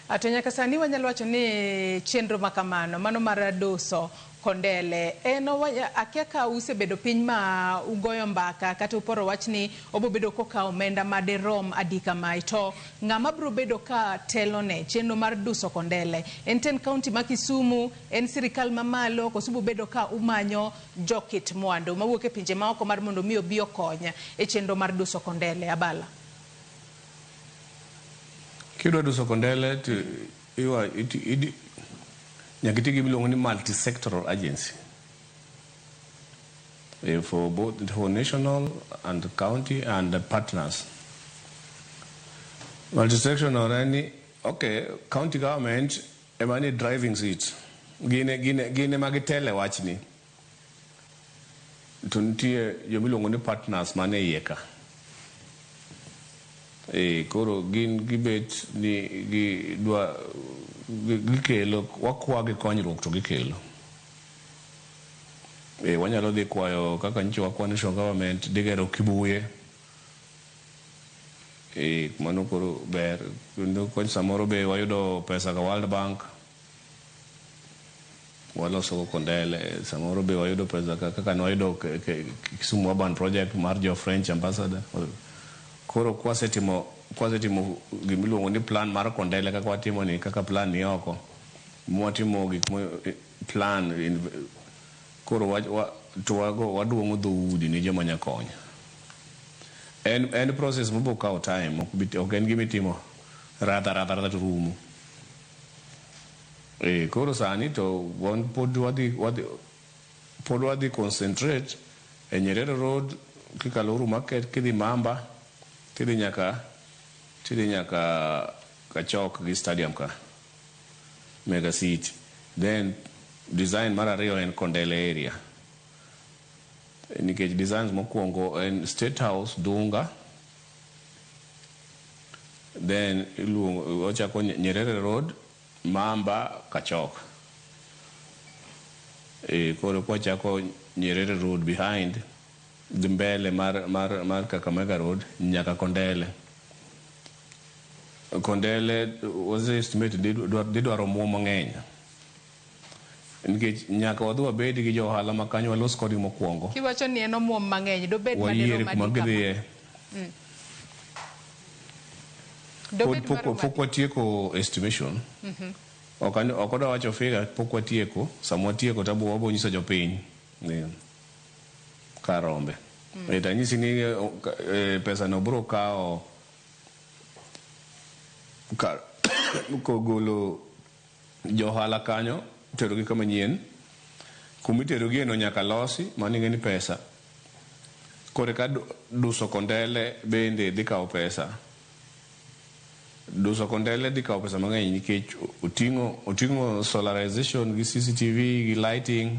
A To nyaka sani wanyalo wacho ni chenro ma kamano, mano mar duso Kondele en akia ka usebedo piny ma ugoyo mbaka kata uporo wach ni obo bedo kokawo omenda ma derom adi kamae. To ng'ama biro bedo ka telo ne chenro mar duso Kondele, en ten county ma Kisumu, en sirikal ma malo koso ubo bedo ka umanyo jo kit mwandu mawuok e pinje ma oko mar mondo mi obi okony e chenro mar duso Kondele? Abala. Kidwa duso kondele to iwa- iti- idi- nyaka iti gi miluongo ni multisectoral agency eh, for both for national and county and the partners. Multisectoral en ni okay, county government ema ni driving seat gine gine gine ma gitele wachni To nitie joma iluongo ni partners man e iye ka. Ee, koro gin gibet ni gidwa gi- gikelo wakwagi konyruok to gikelo. Ee, wanyalo dhi kwayo kaka nyicho wa kwa national government dhi gero Kibuye. Ee, mano koro ber. Kendo kony samoro be wayudo pesa ka World Bank. waloso go Kondele, samoro be wayudo pesa ka- kaka nwayudo ke- ke- Kisumu Urban Project mar jo French Ambassador. Koro kwasetimo kwasetimo gimiluongo ni plan mar Kondele kaka watimo ni kaka plan ni oko, mwatimo gik mo plan in, koro wa, wa, to wago waduong'o dhoudi ne joma nya konyo. En, en process mobiro kawo time, ok bi- ok en gimitimo radha radha radha to rumo. Eeh, koro sani to wan pod wadhi wadhi pod wadhi concentrate e Nyerere Road kikalo Uhuru Market kidhi Mamba tidhi nyaka tidhi nyaka Kachok gi stadium ka Mega City. Then design mar ariyo en Kondele area. Nikech designs mokuongo en State House, Dunga, then iluongo ochako Nyerere Road, Mamba, Kachok. Eh, koro kwachako Nyerere Road behind gi mbele mar, mar, mar Kakamega Road nyaka Kondele. Kondele was estimate didwaro omuom mang'eny. Nikech nyaka wadhi wabedi gi jo ohala ma kanyo walos kodgi mokuongo. Kiwacho ni en omuom mang'eny, dobed ma dirom adi kama? Wayier kuma gidhiye. Pod pok watieko estimation. Ok adwa wacho figure pok watieko. Sama watieko to wabiro nyiso jopiny kar rombe. Ee to anyisi ni pesano biro kawo kar kogolo. Jo ohala kanyo iterogi kama nyien. Kuma iterogieno nyaka losi, mano ing'e ni pesa. Koro eka duso kondele bende dhi kawo pesa. Duso kondele dhi kawo pesa mang'eny nikech oting'o oting'o solarization gi CCTV gi lighting.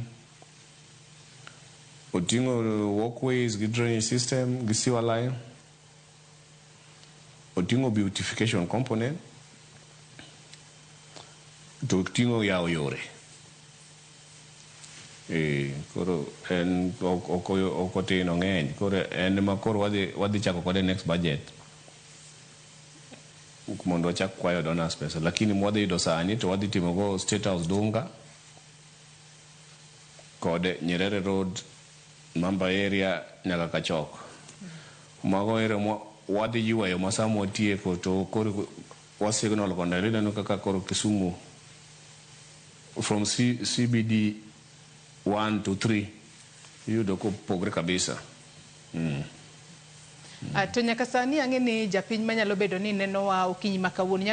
Oting'o walkways gi drainage system gi sewer line. Oting'o beautification component to oting'o yawo yore. Ee, koro en ok- ok ok otin ong'eny. Koro en ema koro wadhi wadhi chako kode next budget mondo wachak kwayo donors pesa lakini mwadhi yudo sani to wadhi timogo State House Dunga kod Nyerere Road Mamba area nyaka kachok. Mago area ma wadhi yuayo ma sama watieko to koro wa signal kondele ineno kaka koro Kisumu from C, CBD 1 to 3 iyudo kopogre kabisa. Mm. Ah, to nyaka sani ang'e ni japiny manyalo bedo ni nenowa okinyi ma kawuono nyalo